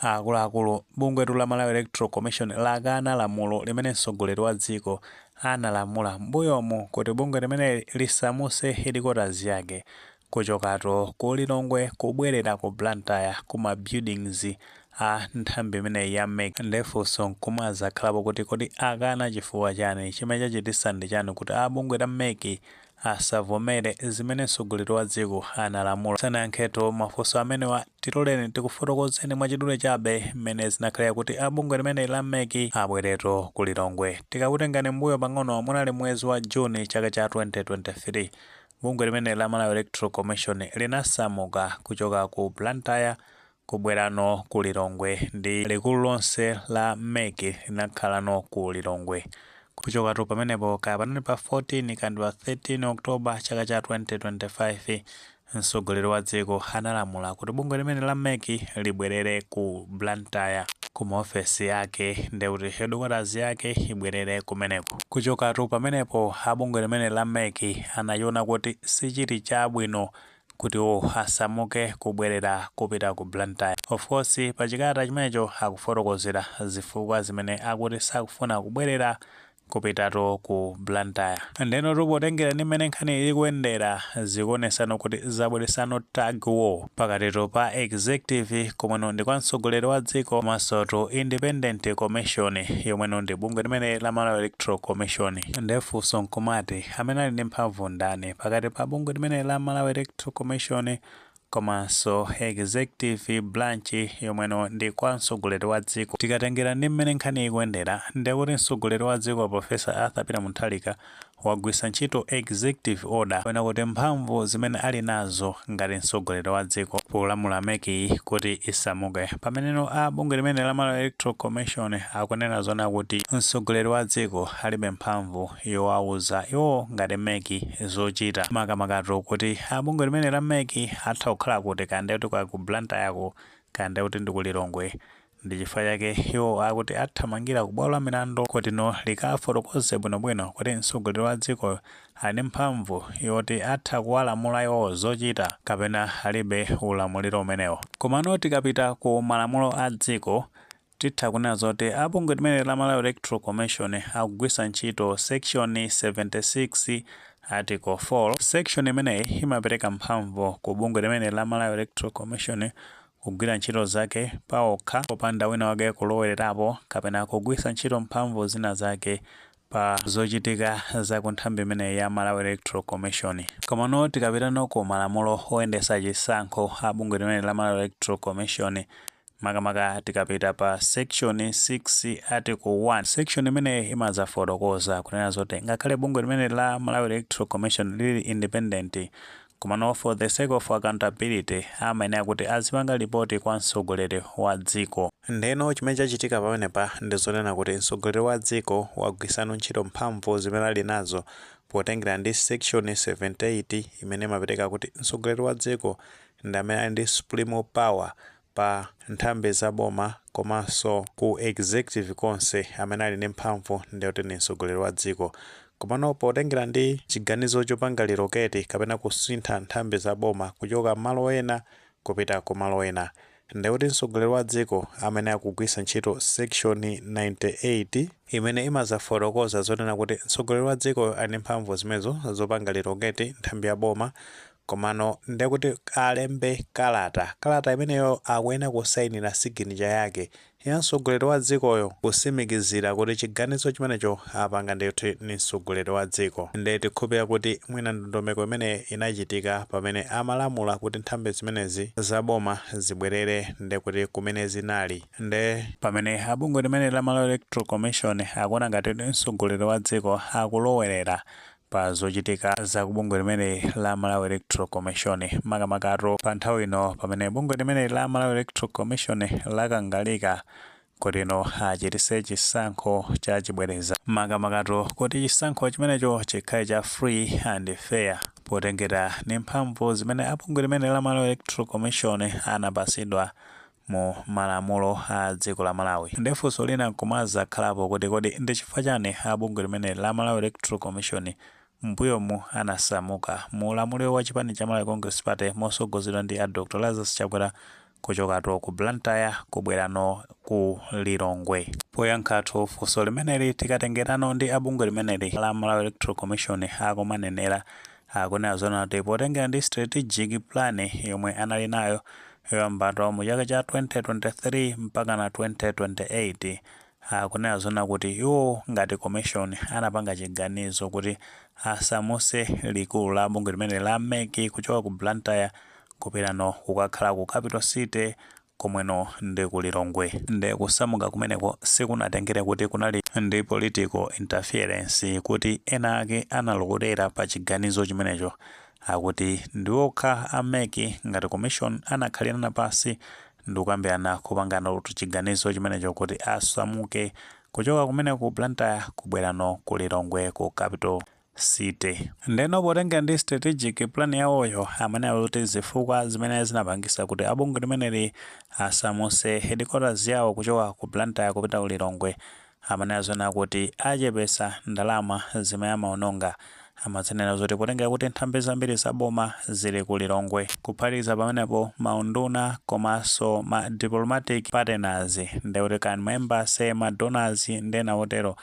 Akuluakulu, Bungwetu la Malawi Electoral Commission lakana lamulo limene mtsogoleri wa dziko analamula mmbuyomu kuti bungwe limeneli lisamuse headquarters yake kuchokato ku Lilongwe kubwelera ku Blantyre ku ma buildings a nthambi imeneyi ya mec. Nde funso nkumazakhalapo kuti kodi akana chifukwa chani? Chimene chachititsa ndi chani kuti a bungwe la mec asavomere zimene mtsogoleri wa dziko analamula. Tisanayankhetu mafunso amenewa, tiloleni tikufotokozeni mwachidule chabe mmene zinakhalira kuti a bungwe limeneli la mec abweretu ku Lilongwe. Tikakutengani m'mbuyo pang'ono, munali mwezi wa June chaka cha 2023. Bungwe limeneli la Malawi Electoral Commission linasamuka kuchoka ku Blantyre kubwerano ku Lilongwe ndi likulu lonse la mec linakhalano ku Lilongwe. Kuchokatu pamenepo kaya panali pa 14 kaya ndi pa 13 October chaka cha 2025 mtsogoleri wa dziko analamula kuti bungwe limene la mec libwerere ku Blantyre ku maofesi ake ndekuti headquarters yake ibwerere kumeneko. Kuchokatu pamenepo a bungwe limene la mec anachiona kuti sichili chabwino kuti iwo asamuke kubwerera kupita ku Blantyre. Of course pa chikalata chimenecho akufotokozera zifukwa zimene akuti sakufuna kubwerera kupitatu ku Blantyre. Ndenotu potengera ndi mmene nkhaniyi likuyendera, zikuonesano kuti zabweresano tug war pakatitu pa Executive komweno ndi kwa mtsogoleri wa dziko komansotu Independent Commission yomweno ndi bungwe limeneli la Malawi Electoral Commission. Nde funso nkumati. amene ali ndi mphamvu ndani pakati pa bungwe limeneli la Malawi Electoral Commission komanso executive branch yomweno ndi kwa mtsogoleri wa dziko tikatengera ndi mmene nkhani ikuyendera ndekuti mtsogoleri wa dziko a Professor Arthur Peter Mutharika wagwisa ntchito executive order kapena kuti mphamvu zimene ali nazo ngati mtsogoleri wa dziko polamula mec yi kuti isamuke pameneno a bungwe limene la malawi electoral commission akunena zona kuti mtsogoleri wa dziko alibe mphamvu yowauza iwo ngati mec zochita makamakatu kuti a bungwe limene la mec atha kukhala kuti kaya ndekuti kwa ku Blantyre ko kaya ndekuti ndi ku Lilongwe ndi chifukwa chake iwo akuti athamangira ku bwalo la milandu kutino likafotokoze bwinobwino kuti mtsogoleri wa dziko ali ndi mphamvu yoti atha kuwalamula iwo zochita kapena alibe ulamuliro umenewo komano tikapita ku malamulo a dziko Titha kunena zoti a bungwe limeneli la Malawi Electoral Commission akugwisa ntchito section 76 article 4. Section imeneyi imapereka mphamvu ku bungwe limeneli la Malawi Electoral Commission kugwira ntchito zake paokha popanda wina wake kulowererapo kapena kugwisa ntchito mphamvu zina zake pa zochitika za ku nthambi imeneyi ya Malawi Electoral Commission. Komano tikapitanso ku malamulo oyendesa chisankho a bungwe limeneli la Malawi Electoral Commission, makamaka tikapita pa section 6 article 1, section imeneyi imazafotokoza kunena zoti ngakhale bungwe limeneli la Malawi Electoral Commission lili independent, Komano for the sake of accountability amayenera kuti azipanga lipoti kwa mtsogoleri wa dziko. Ndeno chimene chachitika pamenepa ndi zonena kuti mtsogoleri wa dziko wagwisano ntchito mphamvu zimene ali nazo potengera ndi section 78 imene imapereka kuti mtsogoleri wa dziko ndi amene ali ndi supreme power pa nthambi za boma komanso ku executive konse amene ali ndi mphamvu ndiye kuti ndi mtsogoleri wa dziko. Komano potengera ndi chiganizo chopanga relocate kapena kusintha nthambi za boma kuchoka malo ena kupita ku malo ena, nde kuti mtsogoleri wa dziko amene akugwisa ntchito section 98, imene imazafotokoza zonena kuti mtsogoleri wa dziko ali ndi mphamvu zimenezo zopanga relocate nthambi ya boma Komano nde kuti alembe kalata, kalata imeneyo akuyenera kusainira siginicha yake ya mtsogoleri wa dzikoyo kusimikizira kuti chiganizo chimenecho apanga ndithu ndi mtsogoleri wa dziko. Nde tikhulupira kuti mwina ndondomeko imeneyi inachitika pamene amalamula kuti nthambi zimenezi za boma zibwerere nde kuti kumene zinali. Nde pamene a bungwe limeneli la Malawi Electoral Commission akuona ngati kuti mtsogoleri wa dziko akulowerera pa zochitika za ku bungwe limeneli la Malawi Electoral Commission, makamakatu pa nthawi ino pamene bungwe limeneli la Malawi Electoral Commission lakangalika kutino achitise chisankho cha chibwereza, makamakatu kuti chisankho chimenecho chikhale cha free and fair potengera ndi mphamvu zimene a bungwe limeneli la Malawi Electoral Commission anapasidwa mu malamulo a dziko la Malawi. Nde funso lina nkumazakhalapo kuti kodi ndi chifukwa chani a bungwe limeneli la Malawi Electoral Commission mmbuyomu anasamuka mu ulamuliro wa chipani cha Malawi Congress Party mosogozedwa ndi a Dr Lazarus Chakwera kuchokatu ku Blantyre kubwerano ku Lilongwe. Poyankhatu funso limeneli tikatengerano ndi a bungwe limeneli la Malawi Electoral Commission akumanenera, akunena zonena kuti potengera ndi strategic plan yomwe anali nayo yoyambatu mu chaka cha 2023 mpakana 2028 akunena zonena kuti iwo ngati commission anapanga chiganizo kuti asamuse likulu la bungwe limeneli la MEC kuchoka ku Blantyre kupitano kukakhala ku Capital City komweno ndi ku Lilongwe. Nde kusamuka kumeneko sikunatengere kuti kunali ndi political interference kuti ena ake analowerera pa chiganizo chimenecho Akuti ndi okha a mec ngati commission anakhalirana pasi ndikukambirana kupanganatu chiganizo chimenecho kuti asamuke kuchoka kumeneko ku Blantyre kubwerano ku Lilongwe ku capital city. Ndeno potengera ndi strategic plan yawoyo amanena zoti zifukwa zimene zinapangisa kuti a bungwe limeneli asamutse headquarters yawo kuchoka ku Blantyre kupita ku Lilongwe Amanena zonena kuti achepetsa ndalama zimene amaononga. Amadzinena zoti potengera kuti nthambi zambiri za boma zili ku Lilongwe. Kuphatikiza pamenepo, ma unduna komanso ma diplomatic partners, ndiye kuti kaya ndi ma embassy, ma donors ndi ena otero,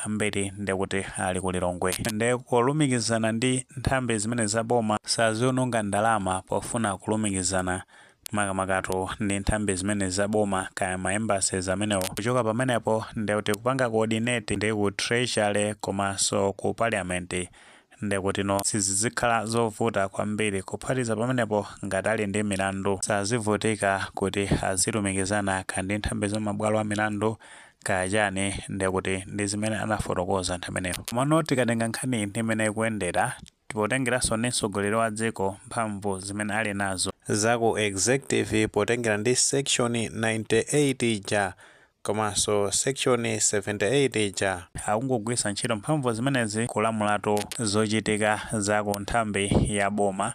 ambiri ndiye kuti ali ku Lilongwe. Ndiye kulumikizana ndi nthambi zimenezi za boma, saziononga ndalama pofuna kulumikizana makamakatu ndi nthambi zimenezi za boma kaya ma embassies amenewo. Kuchoka pamenepo ndiye kuti kupanga coordinate ndi ku treasury komanso ku parliament ndiye kutino sizizikhala zovuta kwambiri. Kuphatikiza pamenepo ngati ali ndi milandu sazivutika kuti azilumikizana kaya ndi nthambi za mabwalo a milandu kaya chani ndiye kuti ndi zimene anafotokoza anthu amenewo. Komano tikatenga nkhaniyi ndi mmene ikuyendera, Potengeranso ndi mtsogoleri wa dziko mphamvu zimene ali nazo. za ku executive potengera ndi section 98 ija komanso section 78 ija. akungogwiritsa ntchito mphamvu zimenezi kulamulatu zochitika za ku nthambi ya boma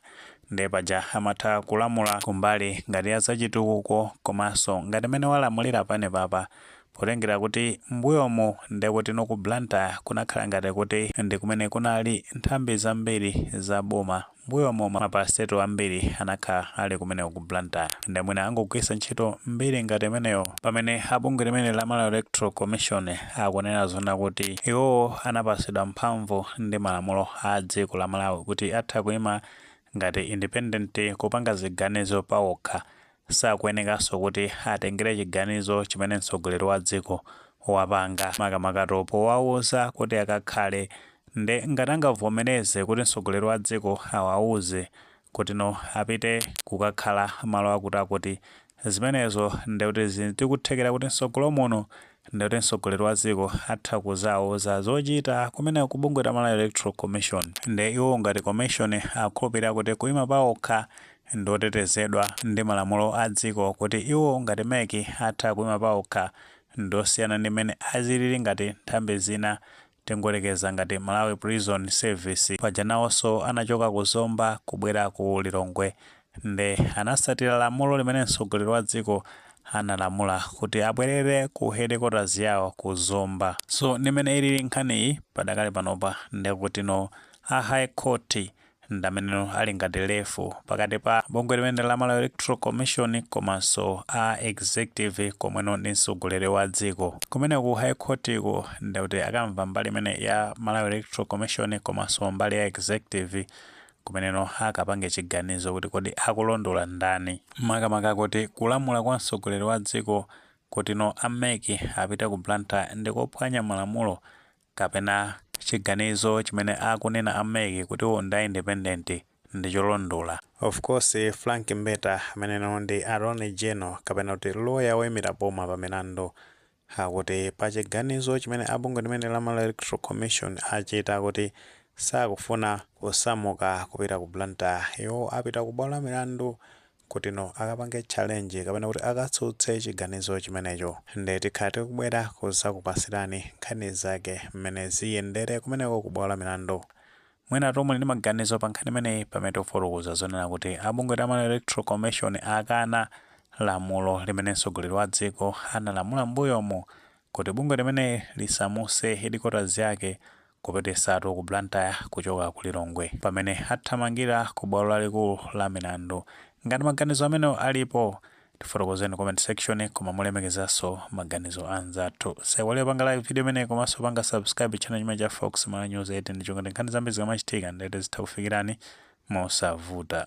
ndiye paja amatha kulamula kumbali ngati ya zachitukuko komanso ngati mmene walamulira panepapa Potengera kuti m'mbuyomo nde kutino ku Blantyre kunakhala ngati kuti ndi kumene kunali nthambi zambiri za boma, m'mbuyomo ma Parastatal ambiri anakhala ali kumeneko ku Blantyre, nde mwina angogwiritsa ntchito mbiri ngati imeneyo pamene a bungwe limeneli la Malawi Electoral Commission akunena zonena kuti iwowo anapatsidwa mphamvu ndi malamulo a dziko la Malawi kuti atha kuima ngati independent kupanga ziganizo pawokha Sakuenekanso kuti atengere chiganizo chimene mtsogoleri wa dziko wapanga makamakatu powauza kuti akakhale nde ngati angavomereze kuti mtsogoleri wa dziko awauze kutino apite kukakhala malo akuti akuti zimenezo ndekuti zili ndi kuthekera kuti mtsogolo muno ndekuti mtsogoleri wa dziko atha kuzauza zochita kumeneko ku bungwe la Malawi Electoral Commission nde iwowo ngati commission akukhulupirira kuti kuima paokha ndi otetezedwa ndi malamulo a dziko kuti iwo ngati mec atha kuima paokha ndiosiyana ndi mmene azilili ngati nthambi zina tingoyerekeza ngati Malawi prison service paja naoso anachoka ku zomba kubwera ku Lilongwe nde anatsatira lamulo limene mtsogoleri wa dziko analamula kuti abwerere ku headquarters yao ku zomba so ndi mmene ilili nkhaniyi padakali panopa ndekutino a high court ndi ameneno ali ngati ref pakati pa bungwe limene la Malawi Electoral Commission komanso a executive komweno ndi mtsogoleri wa dziko. Kumene ku High Court ku ndi kuti akamva mbali imene ya Malawi Electoral Commission komanso mbali ya executive kumeneno akapange chiganizo kuti kodi akulondola ndani. Makamaka kuti kulamula kwa mtsogoleri wa dziko kutino a MEC apite ku Blantyre ndi kuphwanya malamulo kapena chiganizo chimene akunena a MEC kuti iwo ndi independent ndi cholondola. Of course Frank Mbeta ameneno ndi Attorney General kapena kuti loya woimira boma pa milandu akuti pa chiganizo chimene a bungwe limene la Malawi Electoral Commission achita kuti sakufuna kusamuka kupita ku Blantyre, iwo apita ku bwalo la milandu kutino akapange challenge kapena kuti akatsutse chiganizo chimenecho nde tikhala tikubwera kuzakupasirani nkhani zake mmene ziyendere kumeneko ku bwalo la milandu mwina tu muli ndi maganizo pa nkhani imeneyi pamene tikufotokoza zonena kuti abungwe la Malawi Electoral Commission akana lamulo limene mtsogoleri wa dziko analamula mbuyomu kuti bungwe limene lisamuse headquarters yake kupititsatu ku Blantyre kuchoka ku Lilongwe pamene athamangira ku bwalo lalikulu la milandu. Ngati maganizo amenewo alipo, tifotokozeni comment section koma molemekezanso maganizo anzathu. Musaiwale kupanga like video imeneyi komanso kupanga subscribe channel chimene cha Fox Malawi News 18 ndi cholinga choti nkhani zambiri zikamachitika ndiye kuti zitha kufikirani mosavuta.